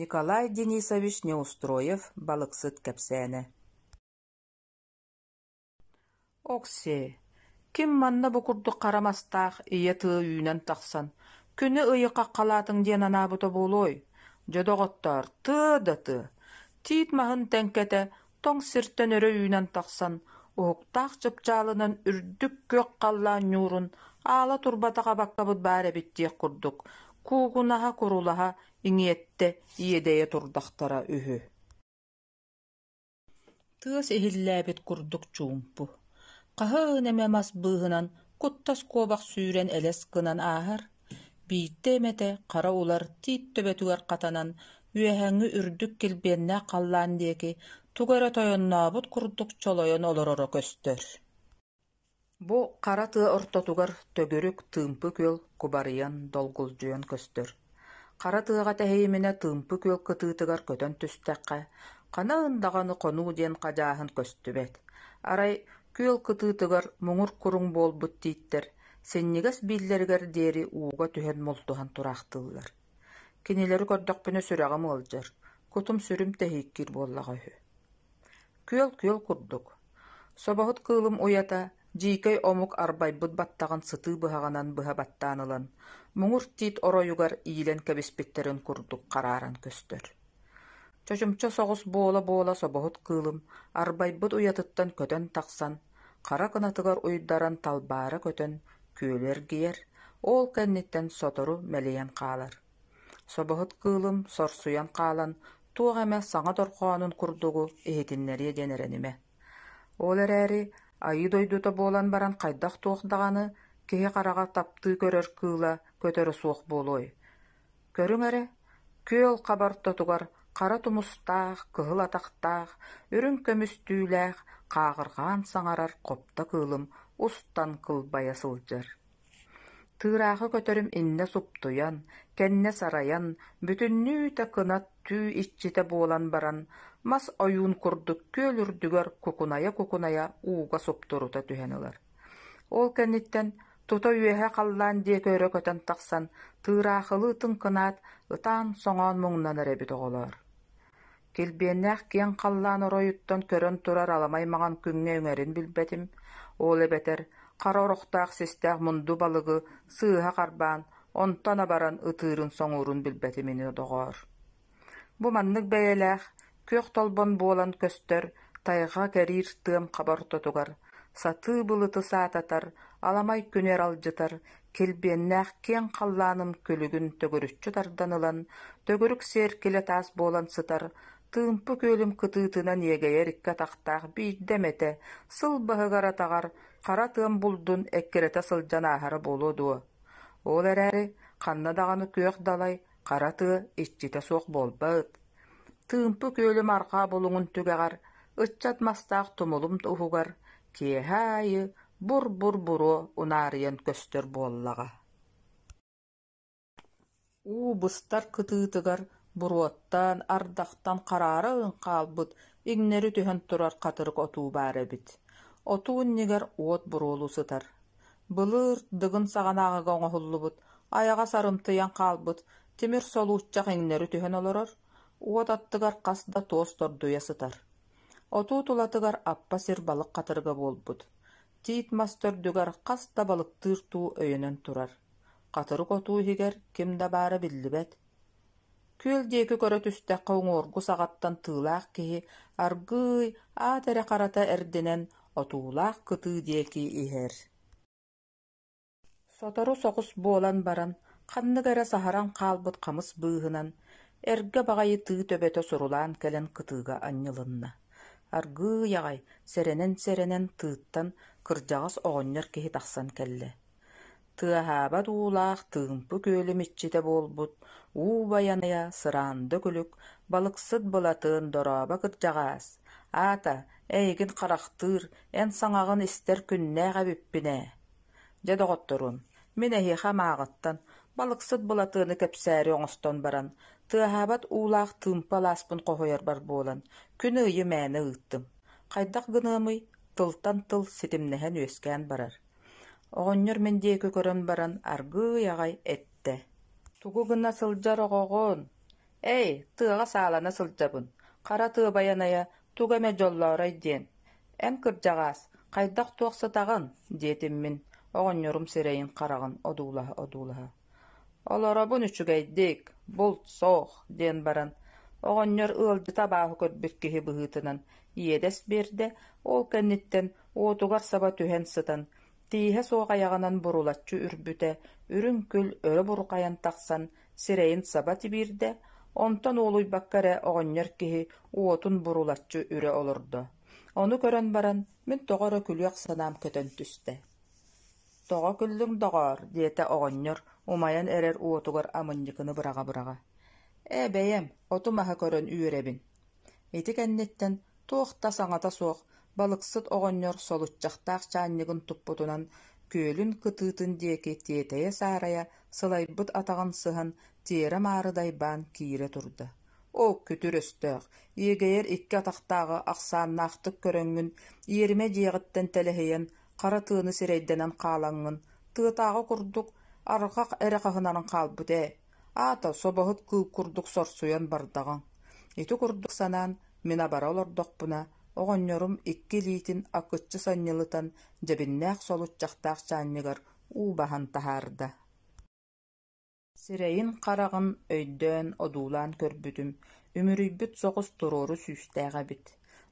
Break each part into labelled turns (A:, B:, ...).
A: Николай Денисович Неустроев балыксыт кэпсээнэ «Окси, ким манна бу курдук хара мастаах ийэ тыа үүнэн тахсан, күнү ыйы хаххалаатыҥ диэн анаабыта буолуой? Дьэ, доҕоттоор, тыа да тыа, тиит маһын тэҥкэтэ тоҥ сиртэн өрө үүнэн тахсан, уһуктаах чыпчаалынан үрдүк күөх халлаан ньуурун аала турбатах абаккабыт баар эбит диэх курдук, куугунаһа-курулаһа, иҥиэттэ, иэдэйэ турдахтара үһү Тыас иһиллээбит курдук чуумпу. Хаһыын эмэ мас быыһынан куттас куобах сүүрэн элэс гынан ааһар, Биирдэ эмэтэ хара улар тиит төбөтүгэр хатанан, үөһээҥҥи үрдүк килбиэннээх халлаан диэки тугу эрэ тойоннообут курдук чолойон олороро көстөр Бу хара тыа ортотугар төгүрүк, тыымпы күөл кубарыйан, долгулдьуйан көстөр. Хара тыаҕа тэһийиминэ тыымпы күөл кытыытыгар көтөн түстэххэ, хана ындаҕаны хонуу диэн хадьааһын көстүбэт. Арай күөл кытыытыгар муҥур куруҥ буолбут тииттэр Синньигэс бииллэригэр диэри ууга түһэн мултуһан тураахтыыллар. Кинилэри көрдөхпүнэ сүрэҕим ыалдьар, кутум-сүрүм тэһииккиир буоллаҕа үһү Күөл-күөл курдук. Собоһут кыылым уйата дьиикэй омук арбайбыт баттаҕын сытыы быһаҕынан быһа баттаан ылан, муҥур тиит оройугар иилэн кэбиспиттэрин курдук харааран көстөр Чочумча соҕус буола-буола собоһут кыылым арбайбыт уйатыттан көтөн тахсан, хара кынатыгар уйдаран талбаара көтөн күөлү эргийэр, ол кэнниттэн сотору мэлийэн хаалар. Собоһут кыылым сорсуйан хаалан туох эмэ саҥа дорҕоонун курдугу иһитиннэриэ диэн эрэнимэ. Ол эрээри айыы дойдута буолан баран хайдах-туох даҕаны киһи хараҕа таптыы көрөр кыыла көтөрө суох буолуой Көрүҥ эрэ, күөл хабар ортотугар хара тумустаах, кыһыл атахтаах, үрүҥ көмүс түүлээх хааҕырҕаан саҥарар хопто кыылым устан кылбайа сылдьар. Тыыраахы көтөрүм иннэ суптуйан, кэннэ сарайан, бүтүннүү-тэ кынат түү иччитэ буолан баран, мас ойуун курдук күөл үрдүгэр кукунайа-кукунайа ууга суптурута түһэн ылар. Ол кэнниттэн тута үөһэ халлаан диэки өрө көтөн тахсан, тыыраахылыы тыҥкынаат, ытаан-соҥоон муҥнанар эбит оҕолоор килбиэннээх киэҥ халлаан оройуттан көрөн турар аламай маҥан күҥҥэ үҥэрин билбэтим, ол эбэтэр хара орохтоох систээх мунду балыгы сыыһа харбаан, онтон абаран ытыырын-соҥуурун билбэтим ини доҕоор Бу маннык бэйэлээх, күөх толбон буолан көстөр тайҕа кэриир тыам хаба ортотугар сатыы былыты саататар, аламай күнү эралдьытар килбиэннээх киэҥ халлааным күлүгүн төгүрүччү тардан ылан, төгүрүк сиэркилэ таас буолан сытар, тыымпы күөлүм кытыытынан иэгэйэр икки атахтаах биирдэ эмэтэ сыл быһыгар-атаҕар хара тыам булдун эккирэтэ сылдьан ааһара буолуо дуо? Ол эрээри ханна даҕаны күөх далай хара тыа иччитэ суох буолбат, Тыымпы күөлүм арҕаа булуҥун түгэҕэр, ыччат мастаах тумулум уһугар, киэһэ аайы бур-бур буруо унаарыйан көстөр буоллаҕа уу быстар кытыытыгар буруоттаан, ардахтан хараара ылын хаалбыт, иҥнэри түһэн турар хатырык отуу баар эбит. Отуу иннигэр уот буруолуу сытар. Былыыр Дыгын саҕанааҕыга оҥоһуллубут, айаҕа сарымтыйан хаалбыт тимир солууччах иҥнэри түһэн олорор, уот аттыгар хас да туос тордуйа сытар. Отуу тулатыгар аппа сир балык хатырыга буолбут, тиит мас төрдүгэр хас да балыктыыр туу өйөнөн турар. Хатырык отуу иһигэр ким да баара биллибэт Күөл диэки көрө түстэххэ уҥуоргу саҕаттан тыылаах киһи аргыый, аат эрэ харата эрдинэн отуулаах кытыы диэки иһэр Сотору соҕус буолан баран, ханнык эрэ саһаран хаалбыт хамыс быыһынан эргэ баҕайы тыы төбөтө сурулаан кэлэн кытыыга анньылынна. Аргыый аҕай сэрэнэн-сэрэнэн тыыттан кырдьаҕас оҕонньор киһи тахсан кэллэ Тыаһаабат уулаах Тыымпы күөлүм иччитэ буолбут уу байаныйа сыраанды күлүк балыксыт Былатыан дорообо кырдьаҕаас, аата, эйигин харахтыыр, эн саҥаҕын истэр күннээх эбиппин ээ. Дьэ, доҕотторум, мин эһиэхэ амааҕыттан балыксыт Былатыаны кэпсээри оҥостон баран, тыаһаабат уулаах Тыымпы алааспын хоһуйарбар буолан, күн ыйы мээнэ ыыттым. Хайдах гыныамый, тылтан тыл ситимнэһэн үөскээн барар. Оҕонньор мин диэки көрөн баран аргыый аҕай эттэ: «Тугу гына сылдьар оҕоҕун? Ээй, тыаҕа саалана сылдьабын, хара тыа байанайа тугу эмэ дьоллоорой диэн. Эн кырдьаҕаас, хайдах-туох сатаҕын?» диэтим мин, оҕонньорум сирэйин-хараҕын одуулаһа-одуулаһа. Олоробун үчүгэйдик, булт суох, диэн баран, оҕонньор ыалдьыта абааһы көрбүт киһи быһыытынан иэдэс биэрдэ, ол кэнниттэн уотугар саба түһэн сытан, тииһэ суох айаҕынан бурулаччы үрбүтэ, үрүҥ күл өрө бурухайан тахсан, сирэйин саба тибиирдэ, онтон уолуйбакка эрэ оҕонньор киһи уотун бурулаччы үрэ олордо. Ону көрөн баран, мин тоҕо эрэ күлүөх санаам көтөн түстэ «Тоҕо күллүҥ, доҕоор?» диэтэ оҕонньор, умайан эрэр уотугар амынньыкыны быраҕа-быраҕа. «Ээ, бэйэм, оту-маһы көрөн үөрэбин. Ити кэнниттэн туох да саҥата суох балыксыт оҕонньор солуччахтаах чаанньыгын туппутунан күөлүн кытыытын диэки тиэтэйэ-саарайа сылайбыт атаҕын сыһан тиэрэ-маары дайбаан киирэ турда. «Оо, күтүр өстөөх, иэгэйэр икки атахтааҕы ахсааннаахтык көрөҥҥүн, иэримэ дьиэҕиттэн тэлэһийэн Хара тыаны сирэйдэнэн хаалаҥҥын, тыатааҕы курдук арҕах эрэ хаһынаран хаалбыт ээ, аата собоһут кыыл курдук сорсуйан бардаҕыҥ. Ити курдук санаан, мин абара олордохпуна, оҕонньорум икки илиитин акыччы санньылытан дьэбиннээх солуччахтаах чаанньыгар уу баһан таһаарда Сирэйин-хараҕын өйдөөн одуулаан көрбүтүм, үмүрүйбүт соҕус туруору сүүстээх эбит,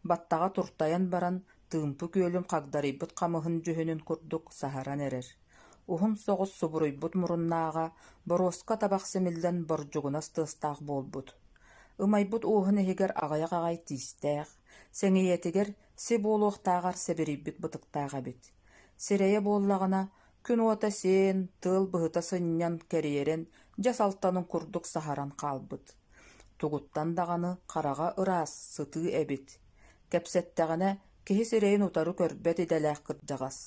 A: баттаҕа туртайан баран, тыымпы күөлүн хагдарыйбыт хамыһын дьүһүнүн курдук саһаран эрэр, уһун соҕус субуруйбут муруннааҕа, боруоска табах симиллэн бордьугунас тыастаах буолбут, ымайбыт ууһун иһигэр аҕыйах аҕай тиистээх, сэҥийэтигэр си буолуохтааҕар сэбирийбит бытыктаах эбит, сирэйэ буоллаҕына, Күн уота сиэн, тыал быһыта сынньан кэрийэрэн, дьэс алтанын курдук саһаран хаалбыт. Тугуттан даҕаны хараҕа ыраас, сытыы эбит. Кэпсэттэҕинэ, киһи сирэйин утары көрбөт идэлээх кырдьаҕас.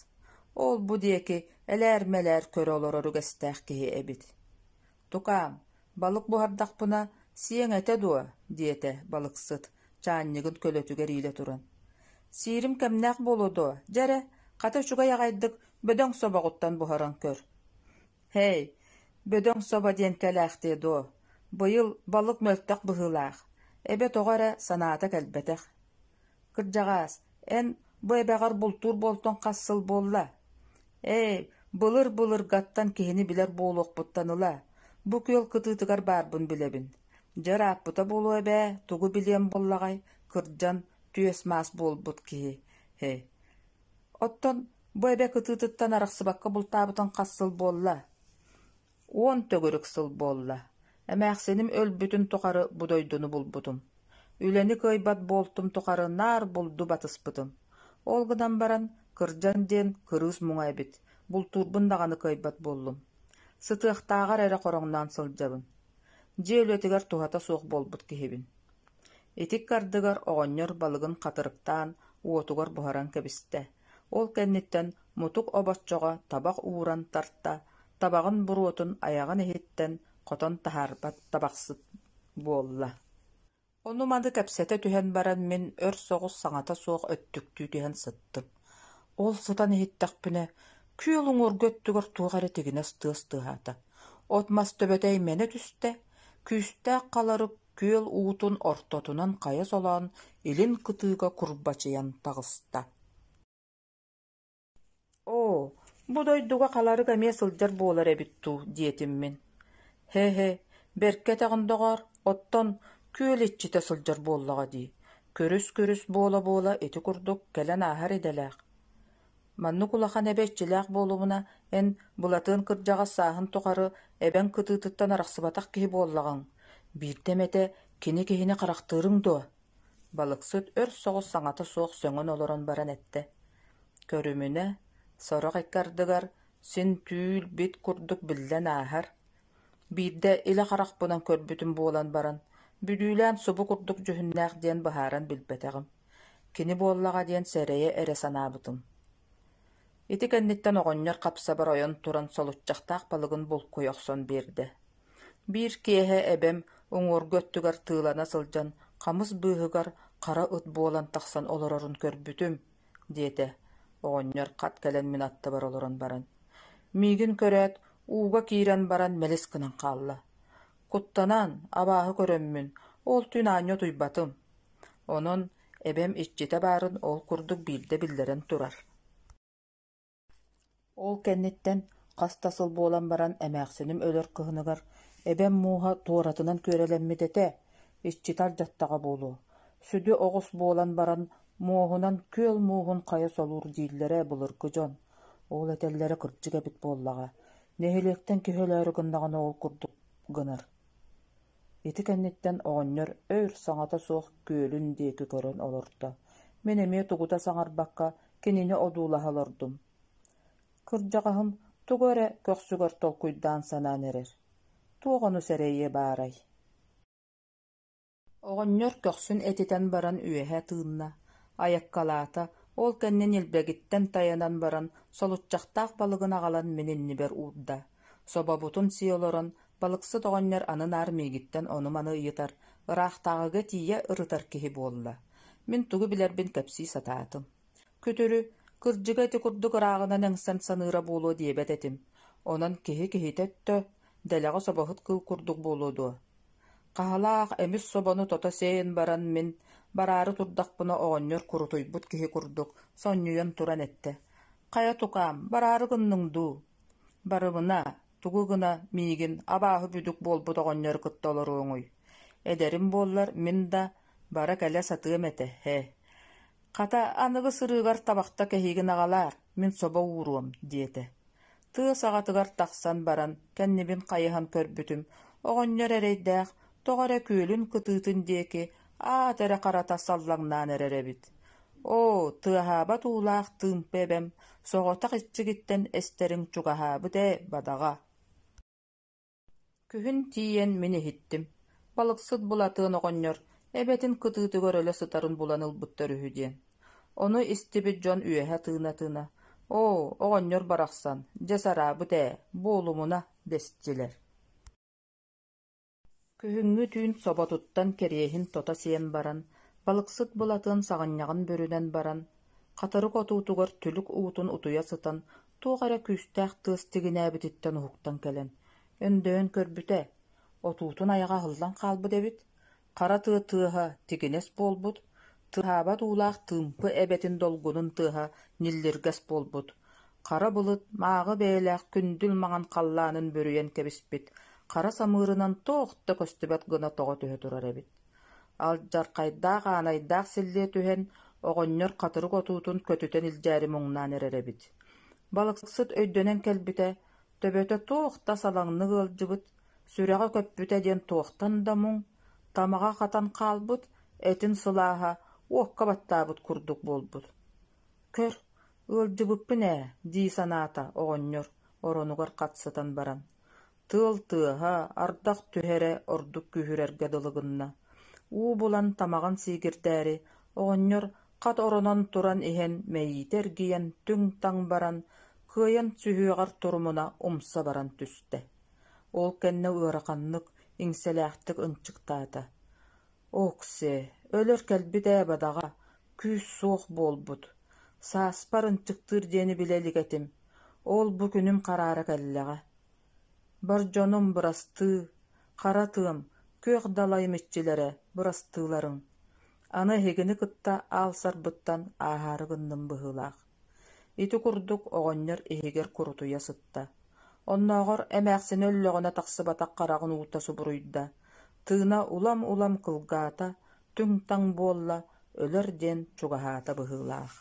A: Ол-бу диэки элээр-мэлээр көрө олорор үгэстээх киһи эбит Тукаам, балык буһардахпына, сиэҥ этэ дуо? – диэтэ балыксыт, чаанньыгын көлөтүгэр иилэ туран. – Сиирим кэмнээх буолуо дуо, дьэ эрэ, хата үчүгэй аҕайдык бөдөҥ собоҕуттан буһаран көр. Һэй, бөдөҥ собо диэн кэлээхтиэ дуо, быйыл балык мөлтөх быһыылаах, эбэ тоҕо эрэ санаата кэлбэтэх Кырдьаҕаас, эн бу эбэҕэр бултуур буолтуҥ хас сыл буолла? Ээ, былыр-былыргаттан киһини билэр буолуохпуттан ыла, бу күөл кытыытыгар баарбын билэбин. Дьэр ааппыта буолуо эбээ, тугу билиэм буоллаҕай, кырдьан, түөс-маас буолбут киһи ээ. Оттон бу эбэ кытыытыттан арахсыбакка бултаабытыҥ хас сыл буолла? Уон төгүрүк сыл буолла, эмээхсиним өлбүтүн тухары бу дойдуну булбутум, үлэни кыайбат буолтум тухары наар булду батыспытым, ол гынан баран кырдьан диэн кырыыс муҥа эбит, бултуурбун даҕаны кыайбат буоллум, сытыахтааҕар эрэ хороҥноон сылдьабын, дьиэ үлэтигэр туһата суох буолбут киһибин. Итик ардыгар оҕонньор балыгын хатырыктаан уотугар буһаран кэбистэ Ол кэнниттэн мутук обоччоҕо табах ууран тарта, табаҕын буруотун айаҕын иһиттэн хотон таһаарбат табахсыт буолла Ону-маны кэпсэтэ түһэн баран мин өр соҕус саҥата суох өттүктүү түһэн сыттым. Ол сытан иһиттэхпинэ, күөл уҥуоргу өттүгэр туох эрэ тигинэс тыас тыаһаата. От-мас төбөтөй мэнэ түстэ, күүстээх халарып күөл уутун ортотунан хайа солоон илин кытыыга курбачыйан таҕыста «Оо, бу дойдуга халарык эмиэ сылдьар буолар эбит дуу» диэтим мин «Һэ-һэ, бэркэ этэҕин, доҕоор, оттон күөл иччитэ сылдьар буоллаҕа дии, көрүс-көрүс буола-буола ити курдук кэлэн ааһар идэлээх» Маннык улахан эбэ иччилээх буолумуна, эн, Былатыан кырдьаҕас сааһын тухары эбэҥ кытыытыттан арахсыбатах киһи буоллаҕыҥ, биирдэ эмэтэ кини киһини харахтыырыҥ дуо? балыксыт өр соҕус саҥата суох сөҥөн олорон баран эттэ: «Көрүмүнэ, сорох икки ардыгар син түүл бит курдук биллэн ааһар. Биирдэ илэ харахпынан көрбүтүм буолан баран, бүлүүлээн субу курдук дьүһүннээх диэн быһааран билбэтэҕим Кини буоллаҕа диэн сэрэйэ эрэ санаабытым ити кэнниттэн оҕонньор хапсабар ойон туран солуччахтаах балыгын булкуйа охсон биэрдэ биир киэһэ эбэм уҥуоргу өттүгэр тыылана сылдьан хамыс быыһыгар хара ыт буолан тахсан олорорун көрбүтүм диэтэ оҕонньор хат кэлэн мин аттыбар олорон баран миигин көрөөт ууга киирэн баран мэлис гынан хаалла куттанаан абааһы көрөммүн ол түүн аанньа утуйбатым Онон эбэм иччитэ баарын ол курдук биирдэ биллэрэн турар Ол кэнниттэн хас да сыл буолан баран эмээхсиним өлөр кыһыныгар эбэм мууһа туоратынан күөрэлэммит этэ, иччитэ ардьаттаҕа буолуо, сүдү оҕус буолан баран муоһунан күөл мууһун хайа солуур дииллэрэ былыргы дьон, ол этэллэрэ кырдьык эбит буоллаҕа, нэһилиэктэн киһи өлөөрү гыннаҕына ол курдук гынар Ити кэнниттэн оҕонньор өр саҥата суох күөлүн диэки көрөн олордо: «Мин эмиэ тугута саҥарбакка, кинини одуулаһа олордум. Кырдьаҕаһым тугу эрэ көхсүгэр толкуйдаан санаан эрэр: туох ону сэрэйиэ баарай?» Оҕонньор көхсүн этитэн баран үөһэ тыынна, айаккалаата, ол кэннэ ньилбэгиттэн тайанан баран, солуччахтаах балыгын аҕалан мин иннибэр уурда: Собобутун сии олорон, балыксыт оҕонньор аны наар миигиттэн ону-маны ыйытар, ыраахтааҕыга тиийэ ырытар киһи буолла, мин тугу билэрбин кэпсии сатаатым. Күтүрү, кырдьыга ити курдук ырааҕынан эҥсэн саныыра буолуо диэбэт этим, онон киһи киһитэ өттө, дэлэҕэ собоһут кыыл курдук буолуо дуо? Хаһалаах эмис собону тото сиэйэн баран мин, бараары турдахпына оҕонньор курутуйбут киһи курдук, сонньуйан туран эттэ: «Хайа тукаам, бараары гынныҥ дуу?» Барыбына, тугу гына миигин абааһы бүдүк буолбут оҕонньору кытта олоруоҥуй, эдэрим буоллар мин да бара кэлэ сатыам этэ ээ, хата аныгы сырыыгар табахта кэһиигин аҕалаар, мин собо ууруом, диэтэ. Тыа саҕатыгар тахсан баран кэннибин хайыһан көрбүтүм, оҕонньор эрэйдээх Тоҕо эрэ күөлүн кытыытын диэки аат эрэ харата саллаҥнаан эрэр эбит оо тыаһаабат уулаах тыымпа эбэм соҕотох иччигиттэн эстэрин чугаһаабыт ээ бадаҕа Күһүн тиийэн мин иһиттим балыксыт Булатыан оҕонньор эбэтин кытыытыгар өлө сытарын булан ылбыттар үһү диэн ону истибит дьон үөһэ тыына-тыына оо оҕонньор барахсан дьэ сараабыт ээ буолумуна дэстилэр Күһүҥҥү түүн соботуттан кэриэһин тото сиэн баран, балыксыт Былатын саҕынньаҕын бүрүнэн баран, хатырык отуутугар түлүк уутун утуйа сытан, туох эрэ күүстээх тыас тигинээбититтэн уһуктан кэлэн, өндөйөн көрбүтэ, отуутун айаҕа аһыллан хаалбыт эбит, хара тыа тыаһа тигинэс буолбут, тыаһаабат уулаах тыымпы эбэтин долгунун тыаһа ньиллиргэс буолбут, Хара былыт мааҕы бэйэлээх күндүл маҥан халлаанын бүрүйэн кэбиспит хара самыырынан туох да көстүбэт гына тоҕо түһэ турар эбит, алдьархайдаах аанайдаах силлиэ түһэн, оҕонньор хатырык отуутун көтүтэн илдьээри муҥнаан эрэр эбит. Балыксыт өйдөнөн кэлбитэ, төбөтө туох да салаҥнык ыалдьыбыт, сүрэҕэ көппүтэ диэн туохтан да муҥ, тамаҕа хатан хаалбыт, этин сылааһа уокка баттаабыт курдук буолбут. Көр, ыалдьыбыппын ээ, дии санаата оҕонньор оронугар хатсытан баран, тыал тыаһа, ардах түһэрэ ордук күүһүрэргэ дылы гынна, уу булан тамаҕын сиигирдээри оҕонньор хат оронон туран иһэн мэйиитэ эргийэн түҥ-таҥ баран, кыайан сүһүөҕэр турумуна умса баран түстэ. Ол кэннэ ыараханнык, иҥсэлээхтик ынчыктаата: «Окси, өлөр кэлбит ээ бадаҕа, күүс суох буолбут, сааспар ынчыктыыр диэни билэ илик этим, ол-бу күнүм хараара кэллэҕэ. Бар дьонум бырастыы, хара тыам, күөх далайым иччилэрэ бырастыыларын, аны эһигини кытта аалсарбыттан ааһаары гынным быһыылаах Ити курдук оҕонньор иһигэр курутуйа сытта, оннооҕор эмээхсинэ өллөҕүнэ тахсыбатах хараҕын уута субуруйда, тыына улам-улам кылгаата, түҥ-таҥ буолла, өлөр диэн чугаһаата быһыылаах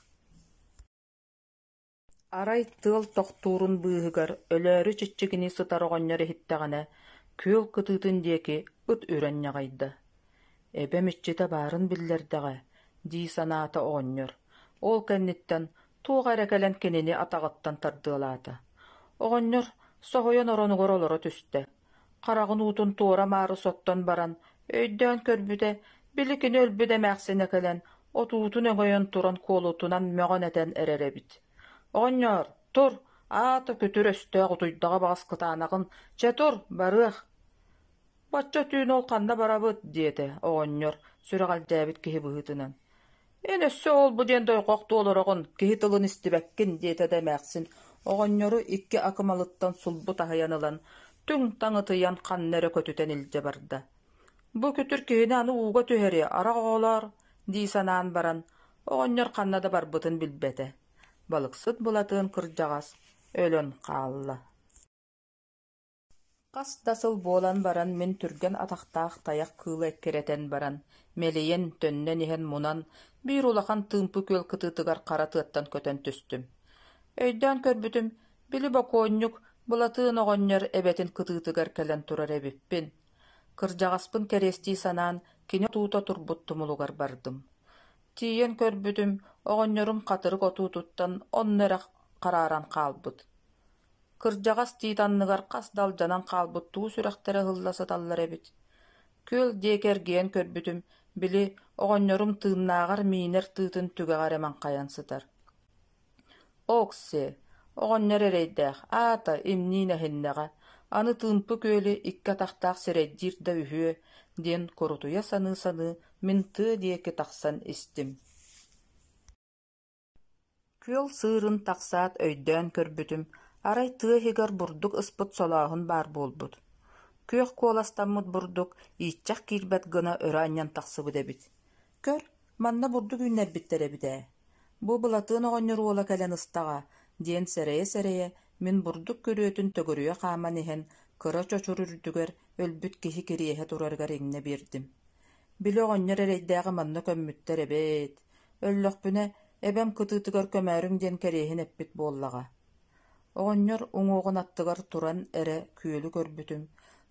A: Арай тыал тохтуурун быыһыгар өлөөрү чиччигини сытар оҕонньор иһиттэҕинэ, күөл кытыытын диэки ыт үрэн ньаҕайда Эбэм иччитэ баарын биллэрдэҕэ дии санаата оҕонньор, ол кэнниттэн туох эрэ кэлэн кинини атаҕыттан тардыалаата. Оҕонньор соһуйан оронугар олоро түстэ, хараҕын уутун туора-маары соттон баран өйдөөн көрбүтэ, били кини өлбүт эмээхсинэ кэлэн отуутун өҥөйөн туран куолутунан мөҕөн этэн эрэр эбит. «Оҕонньоор, тур, аата күтүр өстөөх утуйдаҕа баҕас кытаанаҕын, чэ тур, барыах» Бачча түүн ол ханна барабыт, диэтэ оҕонньор сүрэҕэлдьээбит киһи быһыытынан. «Эн өссө ол-бу диэн дойҕох туолароҕун, киһи тылын истибэккин» диэтэ да эмээхсин оҕонньору икки акымалыттан сулбу таһыйан ылан, түҥ-таҥ ытыйан ханна эрэ көтүтэн илдьэ барда. «Бу күтүр киһини аны ууга түһэриэ, арах оҕолоор» дии санаан баран, оҕонньор ханна да барбытын билбэтэ. Балыксыт Былатыан кырдьаҕас өлөн хаалла. Хас да сыл буолан баран мин түргэн атахтаах тайах кыылы эккирэтэн баран, мэлийэн, төннөн иһэн мунан, биир улахан тыымпы күөл кытыытыгар хара тыаттан көтөн түстүм. Өйдөөн көрбүтүм, били бокуонньук Былатыын оҕонньор эбэтин кытыытыгар кэлэн турар эбиппин. Кырдьаҕаспын кэриэстии санаан, кини отуута турбут тумулугар бардым. Тиийэн көрбүтүм, оҕонньорум хатырык отуутуттан онно эрэ харааран хаалбыт. Кырдьаҕас тиит анныгар хас да алдьанан хаалбыт туу сүрэхтэрэ ыһылла сыталлар эбит, күөл диэки эргийэн көрбүтүм, били, оҕонньорум тыыннааҕар миинэр тыытын түгэҕэ эрэ маҥхайан сытар «Окси, оҕонньор эрэйдээх, аата имниин эһиннэҕэ, аны Тыымпы күөлү икки атахтаах сирэйдиир да үһүө» диэн курутуйа саныы-саныы мин тыа диэки тахсан истим Күөл сыырын тахсаат өйдөөн көрбүтүм, арай тыа иһигэр бурдук ыспыт солооһун баар буолбут, күөх куоластаммыт бурдук ииччэх киирбэт гына өрө анньан тахсыбыт эбит. «Көр, манна бурдук үүннэрбиттэр эбит ээ, бу Былатыан оҕонньор уола кэлэн ыстаҕа» диэн сэрэйэ-сэрэйэ, мин бурдук күрүөтүн төгүрүйэ хааман иһэн, кыра чочур үрдүгэр өлбүт киһи кириэһэ турарыгар иҥнэ биэрдим Били оҕонньор эрэйдээҕи манна көммүттэр эбээт, өллөхпүнэ, эбэм кытыытыгар көмөөрүҥ диэн кэриэһин эппит буоллаҕа. Оҕонньор уҥуоҕун аттыгар туран эрэ күөлү көрбүтүм,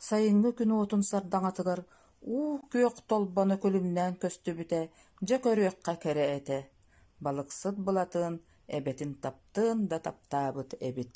A: сайыҥҥы күн уотун сардаҥатыгар уу күөх толбоно күлүмнээн көстүбүтэ, дьэ көрүөххэ кэрэ этэ, балыксыт Былатыан эбэтин таптыан да таптаабыт эбит